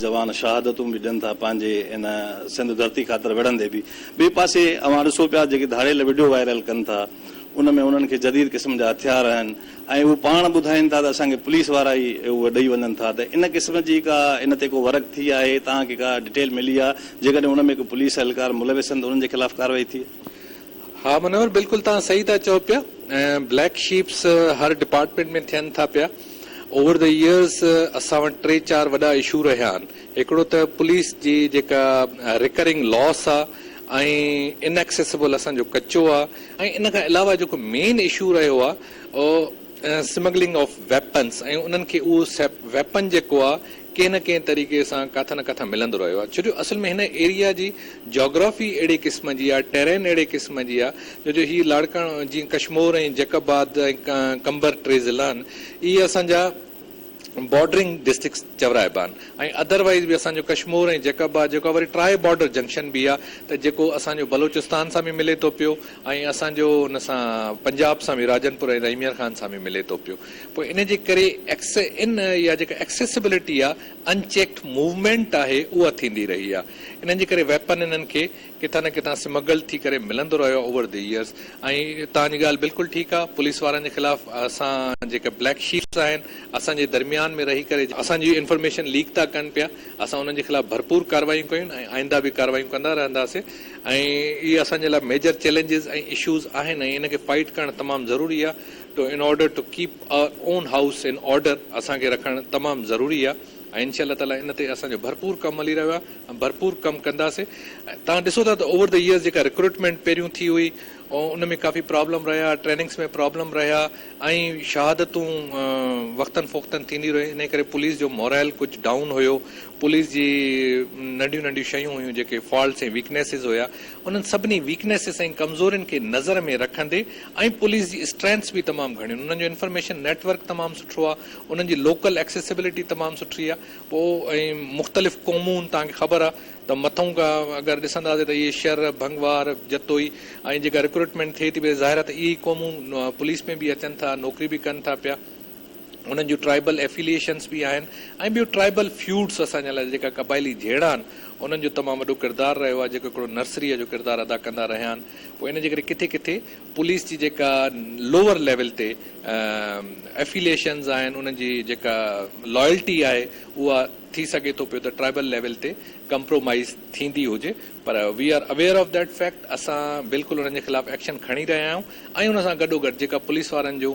جوان شهادتون به ڏين ٿا پنهنجي ان سنڌ ڌرتي خاطر وڙهندي به. ٻئي پاسي اوهان ڏسو پيا جيڪي ڌاڙيل وڊيو وائرل ڪن ٿا ان ۾ انهن کي جديد قسم جا هٿيار آهن ۽ اهو پاڻ ٻڌائين ٿا ته اسان کي پوليس وارا ئي اهو ڏئي وڃن ٿا ته ان قسم جي ڪا ان تي ڪو ورڪ ٿي آهي توهان کي ڪا ڊٽيل ملي آهي جيڪڏهن ان ۾ ڪو پوليس اهلڪار ملوث آهن ته انهن جي خلاف ڪارروائي ٿي. ها منور بلڪل توهان صحيح ٿا چئو پيا ۽ بليڪ شيپس هر ڊپارٽمينٽ ۾ ٿين ٿا پيا اوور دي ايئرس اسان وٽ ٽي چار وڏا اشو رهيا آهن هڪڙو ته پوليس جي جيڪا ريڪرنگ لاس آهي ۽ ان ايڪسيسبل اسان جو ڪچو آهي ۽ ان کان علاوه جيڪو مين اشو رهيو آهي اهو سمگلنگ آف ويپنس ۽ انهن کي اهو ويپن جيڪو آهي ڪنهن نه ڪنهن طريقي سان ڪاٿان نه ڪاٿان ملندو رهيو آهي ڇو جو اصل ۾ هن ايريا جي جاگرافي اهڙي قسم جي آهي ٽيرين اهڙي قسم جي آهي جو جو هي لاڙڪاڻو جيئن ڪشمور ۽ جيڪب آباد ۽ قمبر ٽي ضلعا آهن اهي اسان جا بارڊرنگ ڊسٽرڪس چورائبا آهن ۽ اڌر وائيز به اسان جو ڪشمور ۽ جيڪب آباد جيڪو آهي وري ٽرائي بارڊر جنڪشن به آهي ته جيڪو اسان جو بلوچستان سان به ملي ٿو پيو ۽ اسان جو ان سان پنجاب سان به راجن پور ۽ رحيميار خان سان به ملي ٿو پيو پوء ان جي ڪري ايڪس ان يا جيڪا ايڪسيسبلٽي آ ان چيڪڊ موومينٽ آهي اها ٿيندي رهي آ انهن جي ڪري ويپن انهن کي ڪٿان نه ڪٿان سمگلڊ ٿي ڪري ملندو رهيو آ اوور دي يئرز ۽ توهان جي ڳالهه بلڪل ٺيڪ آ پوليس وارن جي خلاف اسان جيڪا بليڪ شيپس آهن اسان جي درميان ۾ رهي ڪري اسان جي انفارميشن ليڪ ٿا ڪن پيا اسان انهن جي خلاف ڀرپور ڪاروايون ڪيون ۽ آئنده به ڪاروايون ڪندا رهنداسين ۽ اهي اسان جي لاء ميجر چئلينجز ۽ اشوز آهن ۽ ان کي فائيٽ ڪرڻ تمام ضروري آ to in order to keep our own house in order اسان کي رکڻ تمام ضروري آهي ۽ انشاء الله تعالي ان تي اسان جو ڀرپور ڪم هلي رهيو آهي ۽ ڀرپور ڪم ڪنداسي توهان ڏسو ٿا ته اوور دي ايئرس جيڪا رڪروٽمينٽ پهريون ٿي هئي ان ۾ ڪافي پرابلم رهيا ٽريننگس ۾ پرابلم رهيا ۽ شهادتون وقتن فوقتن ٿيندي رهيون انهي ڪري پوليس جو مورائل ڪجهه ڊائون هيو پوليس جي ننڍيون ننڍيون شيون هيون جيڪي فالٽس ۽ ويڪنيسز هيا انهن سڀني ويڪنيسز ۽ ڪمزورين کي نظر ۾ رکندي ۽ پوليس جي اسٽرينٿس به تمام گهڻيون انهن جو انفارميشن نيٽ ورڪ تمام سٺو آ انهن جي لوڪل ايڪسيسبلٽي تمام سٺي آ پوء ۽ مختلف قومون توهان کي خبر آ ته مٿئون کان اگر ڏسنداسين ته اهي شر، ڀنگوار، جتوئي ۽ جيڪا رڪروٽمينٽ ٿئي ٿي پئي ظاهر آ ته اهي ئي قومون پوليس ۾ به اچن ٿا نوڪري به ڪن ٿا پيا. انهن جون ٽرائبل ائفيليئيشنس به آهن ۽ ٻيو ٽرائبل فيوڊس اسان جي لاء جيڪا قبائلي جهيڙا آهن انهن جو تمام وڏو ڪردار رهيو آهي جيڪو هڪڙو نرسريء جو ڪردار ادا ڪندا رهيا آهن پوء ان جي ڪري ڪٿي ڪٿي پوليس جي جيڪا لوور ليول تي ائفيليئيشنس آهن انهن جي جيڪا لائلٽي آهي اها ٿي سگهي ٿو پيو ته ٽرائبل ليول تي ڪمپرومائيز ٿيندي هجي پر we are aware of that fact اسان بلڪل انهن جي خلاف ايڪشن کڻي رهيا آهيون ۽ ان سان گڏوگڏ جيڪا پوليس وارن جون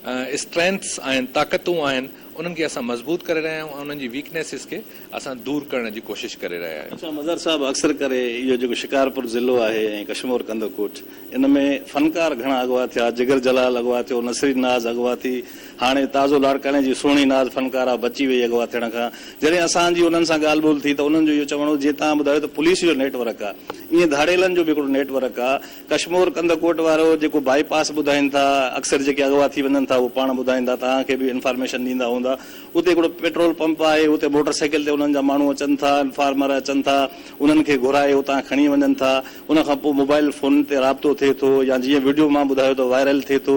اسٽرينٿس آهن طاقتون آهن انهن کي اسان مضبوط ڪري رهيا آهيون ۽ انهن جي ويڪنيسز کي اسان دور ڪرڻ جي ڪوشش ڪري رهيا آهيون. اڇا مظهر صاحب اڪثر ڪري اهو جيڪو شڪارپور ضلعو آهي ۽ ڪشمور ڪنڌڪوٽ ان ۾ فنڪار گهڻا اغوا ٿيا جگر جلال اغوا ٿيو نسرين ناز اغوا ٿي هاڻي تازو لاڙڪاڻي جي سهڻي ناز فنڪاره بچي وئي اغوا ٿيڻ کان. جڏهن اسان جي انهن سان ڳالهه ٻولهه ٿي ته انهن جو اهو چوڻ هو جيئن توهان ٻڌايو ته پوليس جو نيٽ ورڪ آهي ائين ڌاڙيلن جو به هڪڙو نيٽ ورڪ آهي. ڪشمور ڪنڌ ڪوٽ وارو جيڪو بائي پاس ٻڌائين ٿا اڪثر جيڪي اغوا ٿي وڃن ٿا اهو پاڻ ٻڌائيندا توهان کي به انفارميشن ڏيندا هوندا اتي هڪڙو پيٽرول پمپ آهي اتي موٽر سائيڪل تي انهن جا ماڻهو اچن ٿا انفارمر اچن ٿا انهن کي گهرائي اتان کڻي وڃن ٿا ان کان پوء موبائل فون تي رابطو ٿئي ٿو يا جيئن وڊيو مان ٻڌايو ته وائرل ٿئي ٿو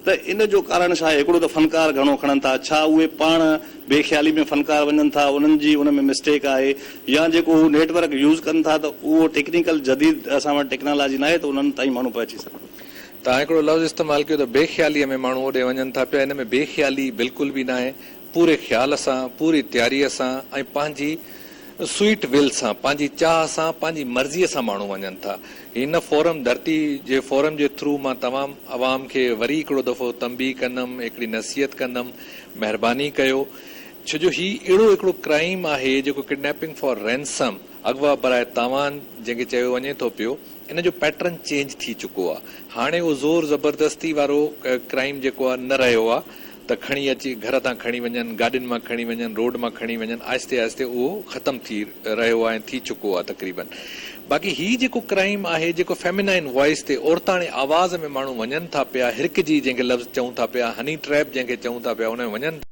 ته ان جو ڪارڻ ڇا آهي؟ هڪڙو ته فنڪار گهڻو کڻن ٿا، ڇا اهي پاڻ بي خيالي ۾ فنڪار وڃن ٿا، انهن جي ان ۾ مسٽيڪ آهي يا جيڪو هو نيٽ ورڪ يوز ڪن ٿا ته اهو ٽيڪنيڪل جديد اسان وٽ ٽيڪنالاجي ناهي ته انهن تائين ماڻهو پهچي سگهن. توهان هڪڙو لفظ استعمال ڪيو ته بي خياليء ۾ ماڻهو اوڏي وڃن ٿا پيا، ان ۾ بي خيالي بلڪل به ناهي، پوري خيال سان، پوري تياريء سان ۽ پنهنجي سوئيٽ ول سان، پنهنجي چاهه سان، پنهنجي مرضيء سان ماڻهو وڃن ٿا. هن فورم ڌرتي جي فورم جي ٿرو مان تمام عوام کي وري هڪڙو دفعو تنبيهه ڪندم هڪڙي نصيحت ڪندم مهرباني ڪيو ڇجو هي اهڙو هڪڙو ڪرائيم آهي جيڪو ڪڊنيپنگ فار رينسم اغوا براء تاوان جنهن کي چيو وڃي ٿو پيو ان جو پيٽرن چينج ٿي چڪو آ هاڻي اهو زور زبردستي وارو ڪرائيم جيڪو آ نه رهيو آ. ته کڻي اچي گهر تان کڻي وڃن، گاڏين مان کڻي وڃن، روڊ مان کڻي وڃن، آهستي آهستي اهو ختم ٿي رهيو آهي ۽ ٿي چڪو آهي تقريبن. باقي هي جيڪو ڪرائيم آهي، جيڪو فيمينائن وائيس تي عورتاڻي آواز ۾ ماڻهو وڃن ٿا پيا، هرکجي جنهن کي لفظ چئون ٿا پيا، هني ٽريپ جنهن کي چئون ٿا پيا ان ۾ وڃن ٿا.